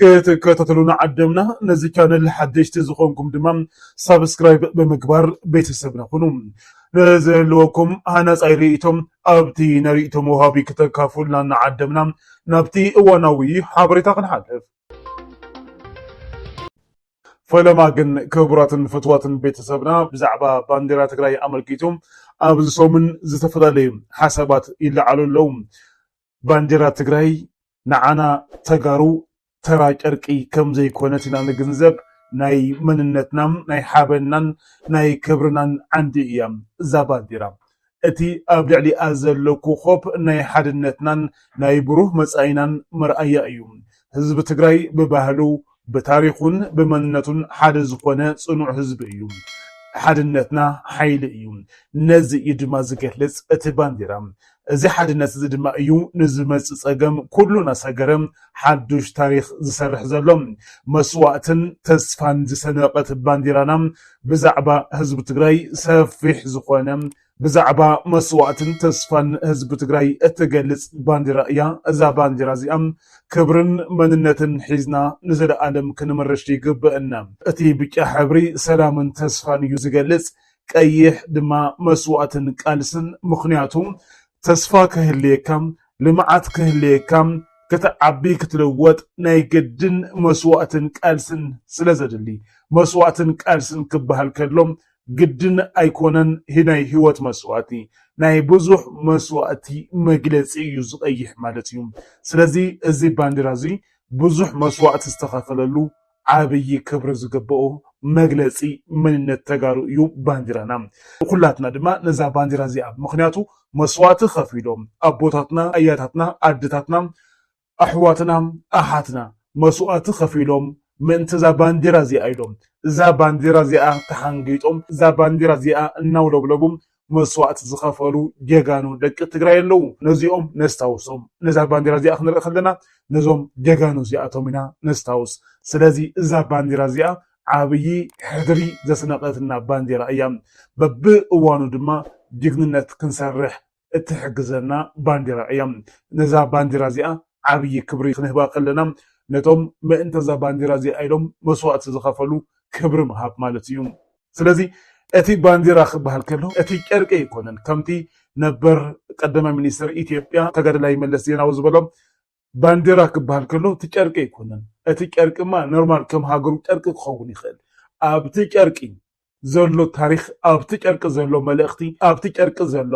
ክትከታተሉና ዓደምና ነዚ ቻነል ሓደሽቲ ዝኾንኩም ድማ ሳብስክራይብ ብምግባር ቤተሰብና ኩኑ ንዘለወኩም ሃናፃይ ርእይቶም ኣብቲ ናይ ርእይቶ መውሃቢ ክተካፉልና እናዓደምና ናብቲ እዋናዊ ሓበሬታ ክንሓልፍ ፈለማ ግን ክቡራትን ፍትዋትን ቤተሰብና ብዛዕባ ባንዴራ ትግራይ ኣመልኪቱ ኣብዚ ሰሙን ዝተፈላለዩ ሓሳባት ይለዓሉ ኣለዉ። ባንዴራ ትግራይ ንዓና ተጋሩ ተራ ጨርቂ ከም ዘይኮነት ኢና ንግንዘብ። ናይ መንነትና፣ ናይ ሓበንናን ናይ ክብርናን ዓንዲ እያ እዛ ባንዴራ። እቲ ኣብ ልዕሊኣ ዘሎ ኮኾብ ናይ ሓድነትናን ናይ ብሩህ መጻኢናን መርኣያ እዩ። ህዝቢ ትግራይ ብባህሉ፣ ብታሪኹን ብመንነቱን ሓደ ዝኾነ ጽኑዕ ህዝቢ እዩ። ሓድነትና ሓይሊ እዩ። ነዚ እዩ ድማ ዝገልጽ እቲ ባንዴራ። እዚ ሓድነት እዚ ድማ እዩ ንዝመጽእ ጸገም ኩሉ እናሰገረ ሓዱሽ ታሪኽ ዝሰርሕ ዘሎ። መስዋእትን ተስፋን ዝሰነቐት ባንዴራና ብዛዕባ ህዝቢ ትግራይ ሰፊሕ ዝኾነ ብዛዕባ መስዋእትን ተስፋን ህዝቢ ትግራይ እትገልፅ ባንዴራ እያ። እዛ ባንዴራ እዚኣ ክብርን መንነትን ሒዝና ንዘለኣለም ክንምርሽ ይግበእና። እቲ ብጫ ሕብሪ ሰላምን ተስፋን እዩ ዝገልፅ፣ ቀይሕ ድማ መስዋእትን ቃልስን ምኽንያቱ ተስፋ ክህልየካ፣ ልምዓት ክህልየካ፣ ክትዓቢ ክትልወጥ ናይ ግድን መስዋእትን ቃልስን ስለዘድሊ። መስዋእትን ቃልስን ክበሃል ከሎ ግድን ኣይኮነን ናይ ሂወት መስዋእቲ ናይ ብዙሕ መስዋእቲ መግለጺ እዩ ዝቀይሕ ማለት እዩ ስለዚ እዚ ባንዴራ እዚ ብዙሕ መስዋእቲ ዝተከፈለሉ ዓብይ ክብሪ ዝግበኦ መግለጺ መንነት ተጋሩ እዩ ባንዴራና ንኩላትና ድማ ነዛ ባንዴራ እዚኣ ምክንያቱ መስዋእቲ ከፊሎም ኣቦታትና ኣያታትና ኣደታትና ኣሕዋትና ኣሓትና መስዋእቲ ከፊሎም ምእንቲ እዛ ባንዴራ እዚኣ ኢሎም እዛ ባንዴራ እዚኣ ተሓንጊጦም እዛ ባንዴራ እዚኣ እናውለብለቡ መስዋእቲ ዝኸፈሉ ጀጋኑ ደቂ ትግራይ ኣለዉ ነዚኦም ነስታውሶም ነዛ ባንዴራ እዚኣ ክንርኢ ከለና ነዞም ጀጋኑ እዚኣቶም ኢና ነስታውስ ስለዚ እዛ ባንዴራ እዚኣ ዓብዪ ሕድሪ ዘስነቐትና ባንዴራ እያ በብእዋኑ ድማ ጅግንነት ክንሰርሕ እትሕግዘና ባንዴራ እያ። ነዛ ባንዴራ እዚኣ ዓብዪ ክብሪ ክንህባ ከለና ነቶም ምእንተ እዛ ባንዴራ እዚኣ ኢሎም መስዋእቲ ዝኸፈሉ ክብሪ ምሃብ ማለት እዩ። ስለዚ እቲ ባንዴራ ክበሃል ከሎ እቲ ጨርቂ ኣይኮነን፣ ከምቲ ነበር ቀዳማይ ሚኒስተር ኢትዮጵያ ተጋዳላይ መለስ ዜናዊ ዝበሎ ባንዴራ ክበሃል ከሎ እቲ ጨርቂ ኣይኮነን፣ እቲ ጨርቂማ ኖርማል ከም ሃገሩ ጨርቂ ክኸውን ይኽእል፣ ኣብቲ ጨርቂ ዘሎ ታሪኽ፣ ኣብቲ ጨርቂ ዘሎ መልእኽቲ፣ ኣብቲ ጨርቂ ዘሎ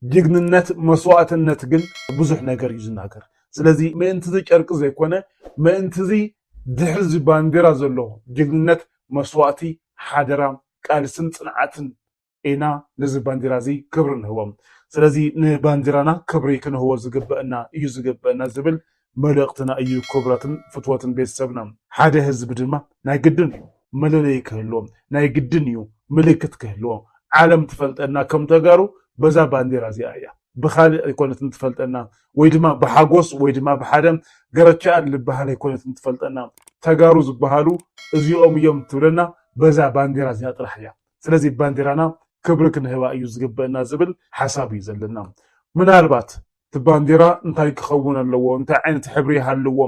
ጅግንነት፣ መስዋእትነት ግን ብዙሕ ነገር እዩ ዝናገር። ስለዚ ምእንቲዚ ጨርቂ ዘይኮነ ምእንቲዚ ድሕሪዚ ባንዴራ ዘሎ ጅግንነት፣ መስዋእቲ፣ ሓደራ፣ ቃልስን ጽንዓትን ኢና ንዚ ባንዲራ እዚ ክብሪ ንህቦ። ስለዚ ንባንዲራና ክብሪ ክንህቦ ዝግበእና እዩ ዝግበእና ዝብል መልእኽትና እዩ ክብረትን ፍትወትን ቤተሰብና። ሓደ ህዝቢ ድማ ናይ ግድን እዩ መለለዪ ክህልዎ፣ ናይ ግድን እዩ ምልክት ክህልዎ። ዓለም ትፈልጠና ከም ተጋሩ በዛ ባንዲራ እዚኣ እያ። ብኻልእ ኣይኮነትን ትፈልጠና ወይ ድማ ብሓጎስ ወይ ድማ ብሓደ ገረቸኣል ልበሃል ኣይኮነትን ትፈልጠና። ተጋሩ ዝበሃሉ እዚኦም እዮም ትብለና በዛ ባንዲራ እዚኣ ጥራሕ እያ። ስለዚ ባንዴራና ክብሪ ክንህባ እዩ ዝግበእና ዝብል ሓሳብ እዩ ዘለና ምናልባት እቲ ባንዴራ እንታይ ክኸውን ኣለዎ እንታይ ዓይነት ሕብሪ ይሃልዎ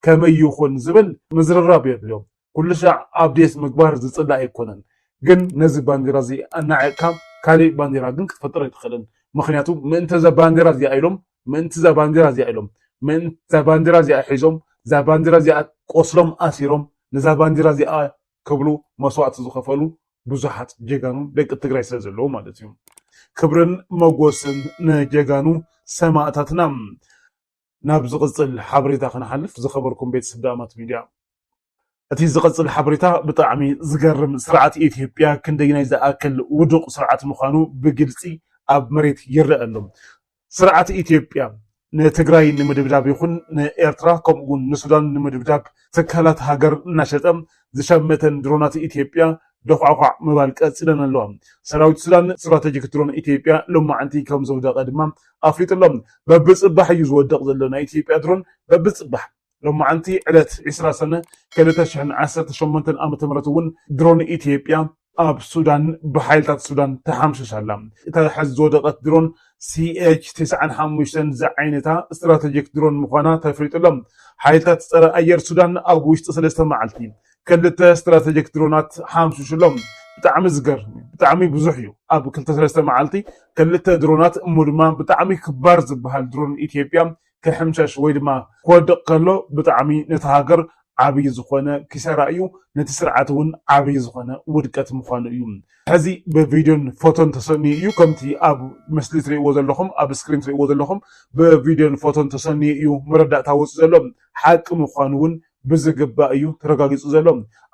ከመይ ይኹን ዝብል ምዝርራብ የድልዮ ኩሉ ሻዕ ኣብዴት ምግባር ዝፅላእ ኣይኮነን ግን ነዚ ባንዴራ እዚ ኣናዒቕካ ካሊእ ባንዴራ ግን ክትፈጥር ኣይትኽእልን ምኽንያቱ ምእንቲ እዛ ባንዴራ እዚኣ ኢሎም ምእንቲ እዛ ባንዴራ እዚኣ ኢሎም ምእንቲ እዛ ባንዴራ እዚኣ ሒዞም እዛ ባንዴራ እዚኣ ቆስሎም ኣሲሮም ነዛ ባንዴራ እዚኣ ክብሉ መስዋእቲ ዝኸፈሉ ብዙሓት ጀጋኑ ደቂ ትግራይ ስለ ዘለዉ ማለት እዩ። ክብርን መጎስን ንጀጋኑ ሰማእታትና። ናብ ዝቕጽል ሓበሬታ ክንሓልፍ ዝኸበርኩም ቤተሰብ ዳእማት ሚድያ እቲ ዝቐጽል ሓበሬታ ብጣዕሚ ዝገርም ስርዓት ኢትዮጵያ ክንደይናይ ዝኣክል ውዱቕ ስርዓት ምዃኑ ብግልጺ ኣብ መሬት ይረኣ ኣሎ። ስርዓት ኢትዮጵያ ንትግራይ ንምድብዳብ ይኹን ንኤርትራ ከምኡ እውን ንሱዳን ንምድብዳብ ትካላት ሃገር እናሸጠ ዝሸመተን ድሮናት ኢትዮጵያ ዶዃዕዃዕ ምባል ቀፂለን ኣለዋ። ሰራዊት ሱዳን ስትራተጂክ ድሮን ኢትዮጵያ ሎማዕንቲ ከምዘውደቐ ድማ ኣፍሊጡ ኣሎ። በብፅባሕ እዩ ዝወድቕ ዘሎ ናይ ኢትዮጵያ ድሮን በብፅባሕ። ሎማዕንቲ ዕለት ዕስራ ሰነ ክልተ ሽሕን ዓሰርተ ሸሞንተን ዓመተ ምህረት እውን ድሮን ኢትዮጵያ ኣብ ሱዳን ብሓይልታት ሱዳን ተሓምሽሻ ኣላ። እታ ሕዚ ዝወደቐት ድሮን ሲኤች ተስዓን ሓሙሽተን ዝዓይነታ ስትራተጂክ ድሮን ምዃና ተፍሊጡ ኣሎ። ሓይልታት ፀረ ኣየር ሱዳን ኣብ ውሽጢ ሰለስተ መዓልቲ ክልተ ስትራተጂክ ድሮናት ሓምሽሹ ኣሎ። ብጣዕሚ ዝገርም እዩ ብጣዕሚ ብዙሕ እዩ ኣብ ክልተ ሰለስተ መዓልቲ ክልተ ድሮናት እሞ ድማ ብጣዕሚ ክባር ዝበሃል ድሮን ኢትዮጵያ ክሕምሸሽ ወይ ድማ ክወድቕ ከሎ ብጣዕሚ ነታ ሃገር ዓብይ ዝኾነ ኪሳራ እዩ፣ ነቲ ስርዓት እውን ዓብይ ዝኾነ ውድቀት ምዃኑ እዩ። ሕዚ ብቪድዮን ፎቶን ተሰንዩ እዩ፣ ከምቲ ኣብ ምስሊ ትሪእዎ ዘለኹም ኣብ ስክሪን ትሪእዎ ዘለኹም ብቪድዮን ፎቶን ተሰንዩ እዩ መረዳእታ ወፂኡ ዘሎ። ሓቂ ምዃኑ እውን ብዝግባእ እዩ ተረጋጊፁ ዘሎ።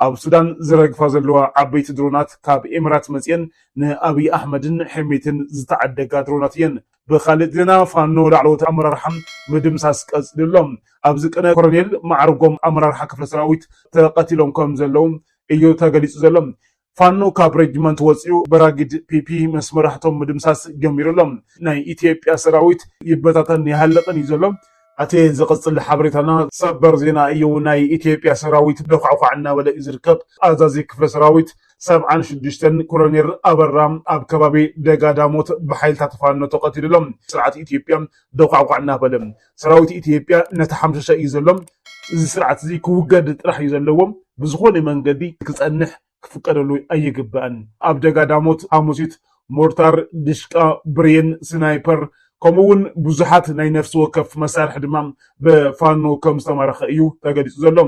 ኣብ ሱዳን ዝረግፋ ዘለዋ ዓበይቲ ድሮናት ካብ ኤምራት መፂኤን ንኣብይ ኣሕመድን ሕሜቲን ዝተዓደጋ ድሮናት እየን። ብኻሊእ ዜና ፋኖ ላዕለዎት ኣመራርሓ ምድምሳስ ቀፂሉ ኣሎ። ኣብዚ ቅነ ኮረኔል ማዕርጎም ኣመራርሓ ክፍለ ሰራዊት ተቐቲሎም ከምዘለዉ እዩ ተገሊፁ ዘሎ። ፋኖ ካብ ሬጅመንት ወፂኡ በራጊድ ፒፒ ምስ መራሕቶም ምድምሳስ ጀሚሩ ኣሎ። ናይ ኢትዮጵያ ሰራዊት ይበታተንን ይሃልቕን እዩ ዘሎ። ኣቲ ዝቅጽል ሓበሬታና ሰበር ዜና እዩ ናይ ኢትዮጵያ ሰራዊት ሎካዕዃዕ እናበለ እዩ ዝርከብ ኣዛዚ ክፍለ ሰራዊት ሰብዓን ሽዱሽተን ኮሎኔር ኣበራ ኣብ ከባቢ ደጋዳሞት ብሓይልታት ፋኖ ተቀቲሉ ኣሎ ስርዓት ኢትዮጵያ ሎካዕዃዕ እናበለ ሰራዊት ኢትዮጵያ እናተሓምሸሸ እዩ ዘሎ እዚ ስርዓት እዚ ክውገድ ጥራሕ እዩ ዘለዎ ብዝኾነ መንገዲ ክጸንሕ ክፍቀደሉ ኣይግባእን። ኣብ ደጋ ዳሞት፣ ሓሙሲት፣ ሞርታር፣ ድሽቃ፣ ብሬን፣ ስናይፐር ከምኡ እውን ብዙሓት ናይ ነፍሲ ወከፍ መሳርሒ ድማ ብፋኖ ከም ዝተማረኸ እዩ ተገሊፁ ዘሎ።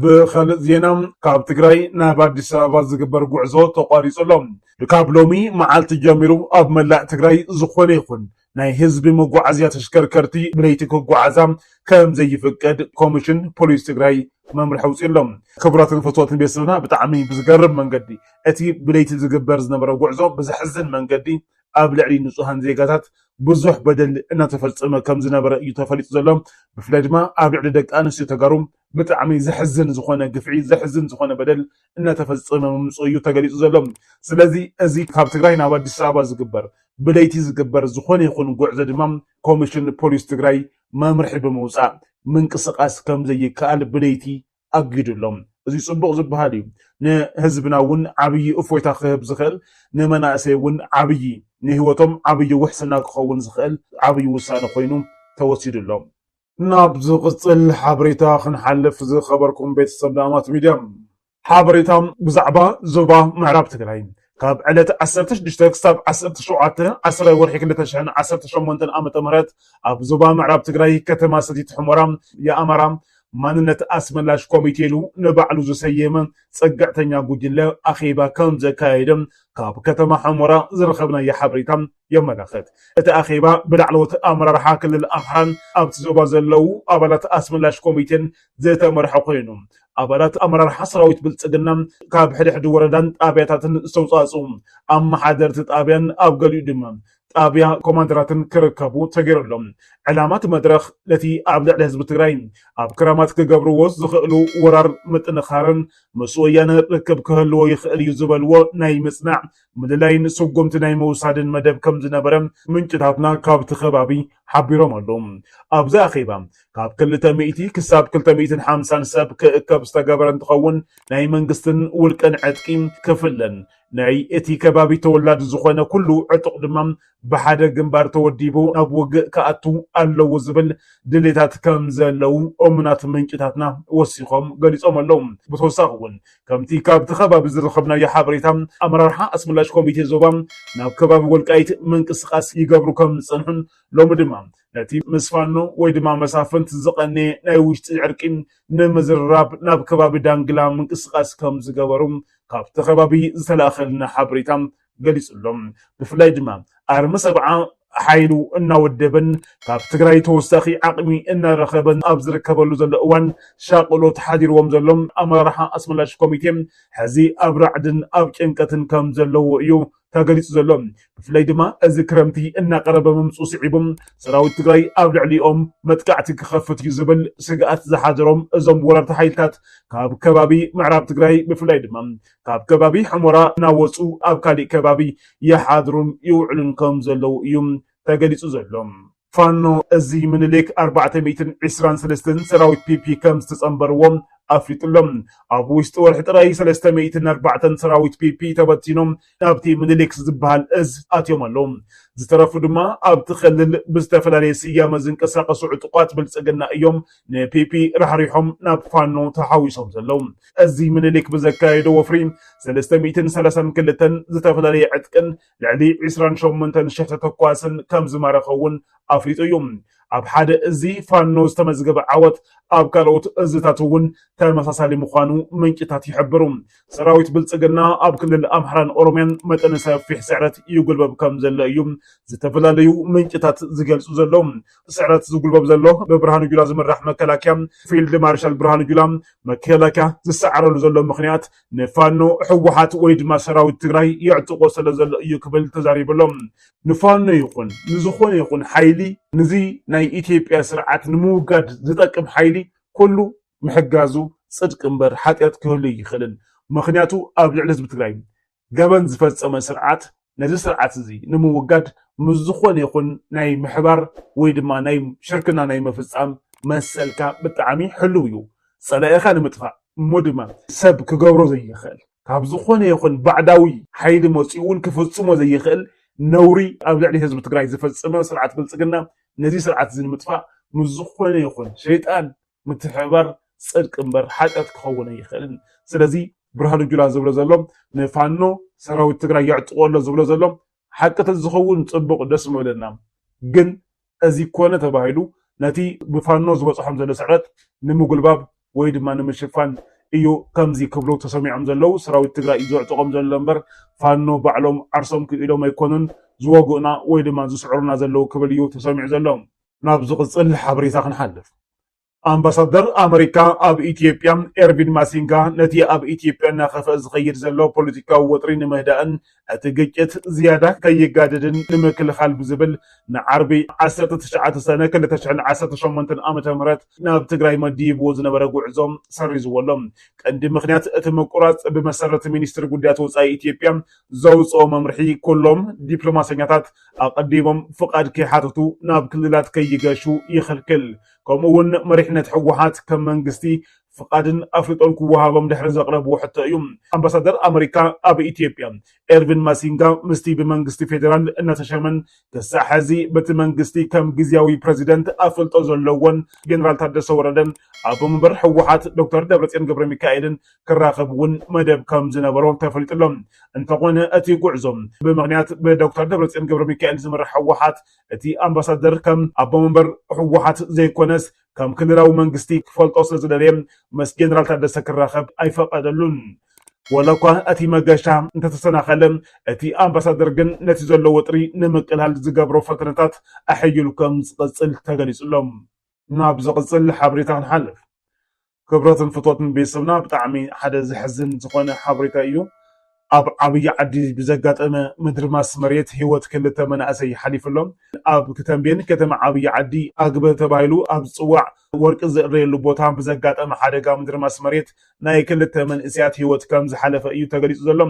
ብኻልእ ዜና ካብ ትግራይ ናብ ኣዲስ ኣበባ ዝግበር ጉዕዞ ተቋሪፁ ኣሎ። ካብ ሎሚ መዓልቲ ጀሚሩ ኣብ መላእ ትግራይ ዝኾነ ይኹን ናይ ህዝቢ መጓዓዝያ ተሽከርከርቲ ብለይቲ ክጓዓዛ ከምዘይፍቀድ ኮሚሽን ፖሊስ ትግራይ መምርሒ ኣውፂኡ ኣሎ። ክቡራትን ፍትወትን ቤተሰብና ብጣዕሚ ብዝገርም መንገዲ እቲ ብለይቲ ዝግበር ዝነበረ ጉዕዞ ብዘሕዝን መንገዲ ኣብ ልዕሊ ንፁሃን ዜጋታት ብዙሕ በደል እናተፈፀመ ከምዝነበረ እዩ ተፈሊጡ ዘሎ ብፍላይ ድማ ኣብ ልዕሊ ደቂ ኣንስትዮ ተጋሩ ብጣዕሚ ዘሕዝን ዝኾነ ግፍዒ ዘሕዝን ዝኾነ በደል እናተፈፀመ ምምፅኡ እዩ ተገሊፁ ዘሎ። ስለዚ እዚ ካብ ትግራይ ናብ ኣዲስ ኣበባ ዝግበር ብለይቲ ዝግበር ዝኾነ ይኹን ጉዕዞ ድማ ኮሚሽን ፖሊስ ትግራይ መምርሒ ብምውፃእ ምንቅስቓስ ከምዘይከኣል ብለይቲ ኣጊዱ ኣሎ። እዚ ፅቡቕ ዝበሃል እዩ። ንህዝብና እውን ዓብዪ እፎይታ ክህብ ዝኽእል ንመናእሰይ እውን ዓብዪ ንህይወቶም ዓብዪ ውሕስና ክኸውን ዝኽእል ዓብዪ ውሳነ ኮይኑ ተወሲዱ ኣሎ። ናብ ዝቕፅል ሓበሬታ ክንሓልፍ ዝኸበርኩም ቤተሰብ ዳማት ሚድያ ሓበሬታ ብዛዕባ ዞባ ምዕራብ ትግራይ ካብ ዕለት 16 ክሳብ 17 10 ወርሒ 2018 ዓ ም ኣብ ዞባ ምዕራብ ትግራይ ከተማ ሰቲት ሕሞራ የኣማራ ማንነት ኣስመላሽ ኮሚቴ ኢሉ ንባዕሉ ዝሰየመ ፀግዕተኛ ጉጅለ ኣኼባ ከም ዘካየደ ካብ ከተማ ሕሞራ ዝረኸብናዮ ሓበሬታ የመላኽት። እቲ ኣኼባ ብላዕለዎት ኣመራርሓ ክልል ኣምሓራን ኣብቲ ዞባ ዘለዉ ኣባላት ኣስመላሽ ኮሚቴን ዝተመርሐ ኮይኑ፣ ኣባላት ኣመራርሓ ሰራዊት ብልፅግና ካብ ሕድሕድ ወረዳን ጣብያታትን ዝተውፃእፅኡ ኣመሓደርቲ ጣብያን ኣብ ገሊኡ ድማ ጣብያ ኮማንደራትን ክርከቡ ተገይሩ ኣሎ። ዕላማ እቲ መድረኽ ነቲ ኣብ ልዕሊ ህዝቢ ትግራይ ኣብ ክራማት ክገብርዎ ዝኽእሉ ወራር ምጥንኻርን ምስ ወያነ ርክብ ክህልዎ ይኽእል እዩ ዝበልዎ ናይ ምፅናዕ ምልላይን ስጉምቲ ናይ ምውሳድን መደብ ከም ዝነበረ ምንጭታትና ካብቲ ከባቢ ሓቢሮም ኣለው። ኣብዚ ኣኼባ ካብ ክልተ ሚእቲ ክሳብ ክልተ ሚእትን ሓምሳን ሰብ ክእከብ ዝተገበረ እንትኸውን ናይ መንግስትን ውልቀን ዕጥቂ ክፍለን ናይ እቲ ከባቢ ተወላዲ ዝኾነ ኩሉ ዕጡቕ ድማ ብሓደ ግንባር ተወዲቡ ናብ ውግእ ክኣቱ ኣለዎ ዝብል ድሌታት ከም ዘለዉ እሙናት ምንጭታትና ወሲኾም ገሊጾም ኣለዉ። ብተወሳኺ እውን ከምቲ ካብቲ ከባቢ ዝረኸብናዮ ሓበሬታ ኣመራርሓ ኣስመላሽ ኮሚቴ ዞባ ናብ ከባቢ ወልቃይት ምንቅስቓስ ይገብሩ ከም ዝጸንሑን ሎሚ ድማ ነቲ ምስ ፋኖ ወይ ድማ መሳፍንት ዝቐነየ ናይ ውሽጢ ዕርቂ ንምዝርራብ ናብ ከባቢ ዳንግላ ምንቅስቓስ ከም ዝገበሩ ካብቲ ከባቢ ዝተላእኸልና ሓበሬታ ገሊፁ'ሎ። ብፍላይ ድማ ኣርሚ ሰብዓ ሓይሉ እናወደበን ካብ ትግራይ ተወሳኺ ዓቕሚ እናረኸበን ኣብ ዝርከበሉ ዘሎ እዋን ሻቕሎት ሓዲርዎም ዘሎ ኣመራርሓ ኣስመላሽ ኮሚቴ ሕዚ ኣብ ራዕድን ኣብ ጭንቀትን ከም ዘለዉ እዩ ተገሊፁ ዘሎ። ብፍላይ ድማ እዚ ክረምቲ እናቐረበ ምምፅኡ ስዒቡ ሰራዊት ትግራይ ኣብ ልዕሊኦም መጥቃዕቲ ክኸፍት እዩ ዝብል ስግኣት ዝሓደሮም እዞም ወረርቲ ሓይልታት ካብ ከባቢ ምዕራብ ትግራይ ብፍላይ ድማ ካብ ከባቢ ሑመራ እናወፁ ኣብ ካሊእ ከባቢ ይሓድሩን ይውዕሉን ከምዘለዉ እዩ ተገሊፁ ዘሎ። ፋኖ እዚ ምኒልክ ኣርባዕተ ሚእትን ዕስራን ሰለስተን ሰራዊት ፒፒ ከምዝተፀምበርዎ ኣፍሊጡ ኣሎ። ኣብ ውሽጢ ወርሒ ጥራይ ሰለስተ ሚእትን ኣርባዕተን ሰራዊት ፒፒ ተበቲኖም ናብቲ ምኒልክ ዝበሃል እዝ ኣትዮም ኣለዉ። ዝተረፉ ድማ ኣብቲ ክልል ብዝተፈላለየ ስያመ ዝንቀሳቐሱ ዕጡቓት ብልፅግና እዮም ንፒፒ ራሕሪሖም ናብ ፋኖ ተሓዊሶም ዘለዉ። እዚ ምኒልክ ብዘካየዶ ወፍሪ ሰለስተ ሚእትን ሰላሳን ክልተን ዝተፈላለየ ዕጥቅን ልዕሊ ዕስራን ሸሞንተን ሽሕ ተተኳስን ከም ዝማረኸ እውን ኣፍሊጡ እዩ። ኣብ ሓደ እዚ ፋኖ ዝተመዝገበ ዓወት ኣብ ካልኦት እዝታት እውን ተመሳሳሊ ምዃኑ ምንጭታት ይሕብሩ። ሰራዊት ብልፅግና ኣብ ክልል ኣምሓራን ኦሮሚያን መጠነ ሰፊሕ ስዕረት ይጉልበብ ከም ዘሎ እዩ ዝተፈላለዩ ምንጭታት ዝገልፁ ዘለዉ። ስዕረት ዝጉልበብ ዘሎ ብብርሃኑ ጁላ ዝምራሕ መከላከያ ፊልድ ማርሻል ብርሃኑ ጁላ መከላከያ ዝሰዓረሉ ዘሎ ምክንያት ንፋኖ ህወሓት ወይ ድማ ሰራዊት ትግራይ የዕጥቆ ስለ ዘሎ እዩ ክብል ተዛሪቡ ኣሎ ንፋኖ ይኹን ንዝኾነ ይኹን ሓይሊ ንዚ ናይ ኢትዮጵያ ስርዓት ንምውጋድ ዝጠቅም ሓይሊ ኩሉ ምሕጋዙ ፅድቂ እምበር ሓጢኣት ክህሉ ይኽእልን ምክንያቱ ኣብ ልዕሊ ህዝቢ ትግራይ ገበን ዝፈጸመ ስርዓት ነዚ ስርዓት እዚ ንምውጋድ ምስ ዝኾነ ይኹን ናይ ምሕባር ወይ ድማ ናይ ሽርክና ናይ ምፍጻም መሰልካ ብጣዕሚ ሕሉው እዩ። ጸላኢኻ ንምጥፋእ እሞ ድማ ሰብ ክገብሮ ዘይኽእል ካብ ዝኾነ ይኹን ባዕዳዊ ሓይሊ መጺኡ እውን ክፍጽሞ ዘይኽእል ነውሪ ኣብ ልዕሊ ህዝቢ ትግራይ ዝፈጸመ ስርዓት ብልጽግና ነዚ ስርዓት እዚ ንምጥፋእ ምስ ዝኾነ ይኹን ሸይጣን ምትሕብባር ጽድቂ እምበር ሓጢኣት ክኸውን ኣይኽእልን። ስለዚ ብርሃኑ ጁላ ዝብሎ ዘሎ ንፋኖ ሰራዊት ትግራይ የዕጥቆ ኣሎ ዝብሎ ዘሎ ሓቂ ተዝኸውን ጽቡቕ ደስ ምበለና። ግን እዚ ኮነ ተባሂሉ ነቲ ብፋኖ ዝበጽሖም ዘሎ ስዕረት ንምጉልባብ ወይ ድማ ንምሽፋን እዩ ከምዚ ክብሉ ተሰሚዖም ዘለዉ። ሰራዊት ትግራይ እዩ ዘዕጥቖም ዘሎ እምበር ፋኖ ባዕሎም ዓርሶም ክኢሎም ኣይኮኑን ዝወግኡና ወይ ድማ ዝስዕሩና ዘለዉ ክብል እዩ ተሰሚዑ ዘሎ። ናብ ዝቕፅል ሓበሬታ ክንሓልፍ። ኣምባሳደር ኣመሪካ ኣብ ኢትዮጵያ ኤርቪን ማሲንጋ ነቲ ኣብ ኢትዮጵያ እናኸፍአ ዝኸይድ ዘሎ ፖለቲካዊ ወጥሪ ንምህዳእን እቲ ግጭት ዝያዳ ከይጋደድን ንምክልኻል ብዝብል ንዓርቢ ዓሰርተ ትሽዓተ ሰነ ክልተ ሽሕን ዓሰርተ ሸሞንተን ዓመተ ምህረት ናብ ትግራይ መዲብዎ ዝነበረ ጉዕዞ ሰሪዝዎ ኣሎ። ቀንዲ ምኽንያት እቲ ምቁራፅ ብመሰረት ሚኒስትሪ ጉዳያት ወፃኢ ኢትዮጵያ ዘውፅኦ መምርሒ ኩሎም ዲፕሎማሰኛታት ኣቐዲሞም ፍቓድ ከይሓተቱ ናብ ክልላት ከይገሹ ይኽልክል። ከምኡ እውን መሪሕነት ህወሓት ከም መንግስቲ ፍቓድን ኣፍልጦን ክወሃቦም ድሕሪ ዘቕረብዎ ሕቶ እዩ። ኣምባሳደር ኣመሪካ ኣብ ኢትዮጵያ ኤርቪን ማሲንጋ ምስቲ ብመንግስቲ ፌዴራል እናተሸመን ክሳዕ ሕዚ በቲ መንግስቲ ከም ግዝያዊ ፕረዚደንት ኣፍልጦ ዘለዎን ጀነራል ታደሰ ወረደን ኣቦ መንበር ህወሓት ዶክተር ደብረፅዮን ገብረሚካኤልን ክራኸብ እውን መደብ ከም ዝነበሮ ተፈሊጡ ኣሎ። እንተኾነ እቲ ጉዕዞ ብምኽንያት ብዶክተር ደብረፅዮን ገብረሚካኤል ዝምራሕ ህወሓት እቲ ኣምባሳደር ከም ኣቦ መንበር ህወሓት ዘይኮነስ ከም ክልላዊ መንግስቲ ክፈልጦ ስለዝደለየ ምስ ጀነራል ታደሰ ክራኸብ ኣይፈቐደሉን። ወላ እኳ እቲ መገሻ እንተተሰናኸለ እቲ ኣምባሳደር ግን ነቲ ዘሎ ወጥሪ ንምቅላል ዝገብሮ ፈተነታት ኣሐይሉ ከም ዝቕፅል ተገሊፁ ኣሎ። ናብ ዝቕፅል ሓበሬታ ክንሓልፍ። ክብረትን ፍቶትን ቤተሰብና ብጣዕሚ ሓደ ዘሕዝን ዝኾነ ሓበሬታ ኢዩ። ኣብ ዓብይ ዓዲ ብዘጋጠመ ምድርማስ መሬት ህይወት ክልተ መናእሰይ ሓሊፉ ኣሎ። ኣብ ተምቤን ከተማ ዓብይ ዓዲ ኣግበ ተባሂሉ ኣብ ዝፅዋዕ ወርቂ ዝእረየሉ ቦታ ብዘጋጠመ ሓደጋ ምድርማስ መሬት ናይ ክልተ መንእሰያት ህይወት ከም ዝሓለፈ እዩ ተገሊፁ ዘሎ።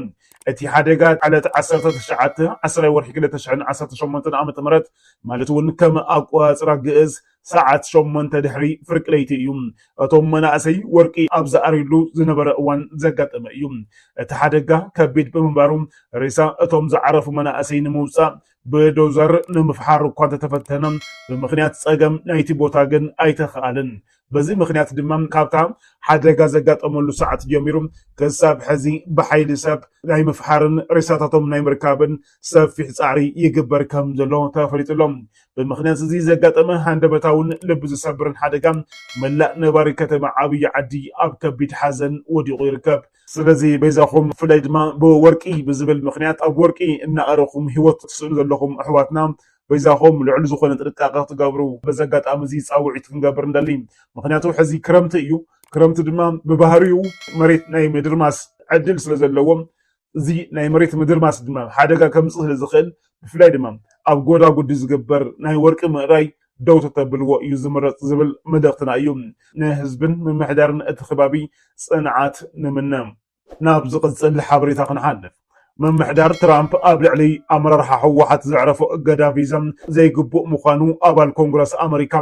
እቲ ሓደጋ ዕለት ዓሰርተ ትሽዓተ ዓስራይ ወርሒ ክልተ ሽሕን ዓሰርተ ሸሞንተን ዓመተ ምህረት ማለት እውን ከም ኣቆፃፅራ ግእዝ ሰዓት ሸሞንተ ድሕሪ ፍርቂ ለይቲ እዩ። እቶም መናእሰይ ወርቂ ኣብ ዝኣርዩሉ ዝነበረ እዋን ዘጋጠመ እዩ። እቲ ሓደጋ ከቢድ ብምንባሩ ሬሳ እቶም ዝዓረፉ መናእሰይ ንምውፃእ ብዶዘር ንምፍሓር እኳ እንተተፈተነ ብምኽንያት ፀገም ናይቲ ቦታ ግን ኣይተኽኣለን። በዚ ምኽንያት ድማ ካብታ ሓደጋ ዘጋጠመሉ ሰዓት ጀሚሩ ክሳብ ሕዚ ብሓይሊ ሰብ ናይ ምፍሓርን ሬሳታቶም ናይ ምርካብን ሰፊሕ ፃዕሪ ይግበር ከም ዘሎ ተፈሊጡ ኣሎ። ብምክንያት እዚ ዘጋጠመ ሃንደበታውን ልቢ ዝሰብርን ሓደጋ መላእ ነባሪ ከተማ ዓብዪ ዓዲ ኣብ ከቢድ ሓዘን ወዲቑ ይርከብ። ስለዚ በይዛኹም ብፍላይ ድማ ብወርቂ ብዝብል ምክንያት ኣብ ወርቂ እናኣረኹም ህይወት ትስእኑ ዘለኹም ኣሕዋትና በይዛኹም ልዑል ዝኾነ ጥንቃቐ ክትገብሩ በዚ ኣጋጣሚ እዚ ፃውዒት ክንገብር ንደሊ። ምክንያቱ ሕዚ ክረምቲ እዩ። ክረምቲ ድማ ብባህሪኡ መሬት ናይ ምድርማስ ዕድል ስለ ዘለዎ እዚ ናይ መሬት ምድርማስ ድማ ሓደጋ ከምፅእ ስለ ዝኽእል ብፍላይ ድማ ኣብ ጎዳጉዲ ዝግበር ናይ ወርቂ ምእራይ ደው ተተብልዎ እዩ ዝምረፅ ዝብል መልእኽትና እዩ። ንህዝብን ምምሕዳርን እቲ ከባቢ ፅንዓት ንምነ። ናብ ዝቕፅል ሓበሬታ ክንሓልፍ፣ ምምሕዳር ትራምፕ ኣብ ልዕሊ ኣመራርሓ ህወሓት ዘዕረፎ እገዳ ቪዛ ዘይግቡእ ምዃኑ ኣባል ኮንግረስ ኣመሪካ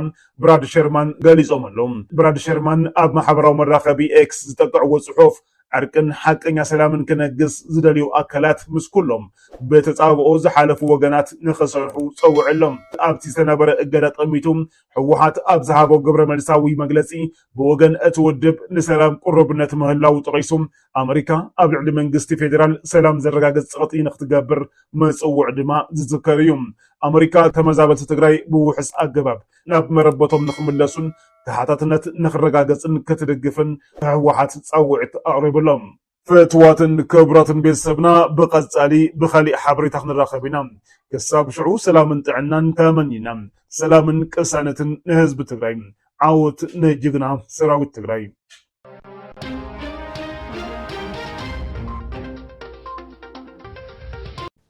ብራድ ሸርማን ገሊፆም ኣለው። ብራድ ሸርማን ኣብ ማሕበራዊ መራኸቢ ኤክስ ዝጠቅዕዎ ፅሑፍ ዕርቅን ሓቀኛ ሰላምን ክነግስ ዝደልዩ ኣካላት ምስ ኩሎም ብተጻብኦ ዝሓለፉ ወገናት ንኽሰርሑ ጸዊዑ'ሎ። ኣብቲ ዝተነበረ እገዳ ጠሚቱ ህወሓት ኣብ ዝሃቦ ግብረመልሳዊ መግለጺ ብወገን እቲ ውድብ ንሰላም ቅሩብነት ምህላዉ ጠቒሱ ኣመሪካ ኣብ ልዕሊ መንግስቲ ፌደራል ሰላም ዘረጋግጽ ጸቕጢ ንኽትገብር ምጽውዑ ድማ ዝዝከር እዩ። ኣመሪካ ተመዛበልቲ ትግራይ ብውሑስ ኣገባብ ናብ መረበቶም ንክምለሱን ተሓታትነት ንክረጋገፅን ክትድግፍን ህወሓት ፃውዒት ኣቕሪቡ ኣሎ። ፍትዋትን ክብራትን ቤተሰብና ብቀጻሊ ብካሊእ ሓበሬታ ክንራከብ ኢና ክሳብ ሽዑ ሰላምን ጥዕናን ተመኒና ሰላምን ቅሳነትን ንህዝቢ ትግራይ ዓወት ንጅግና ሰራዊት ትግራይ።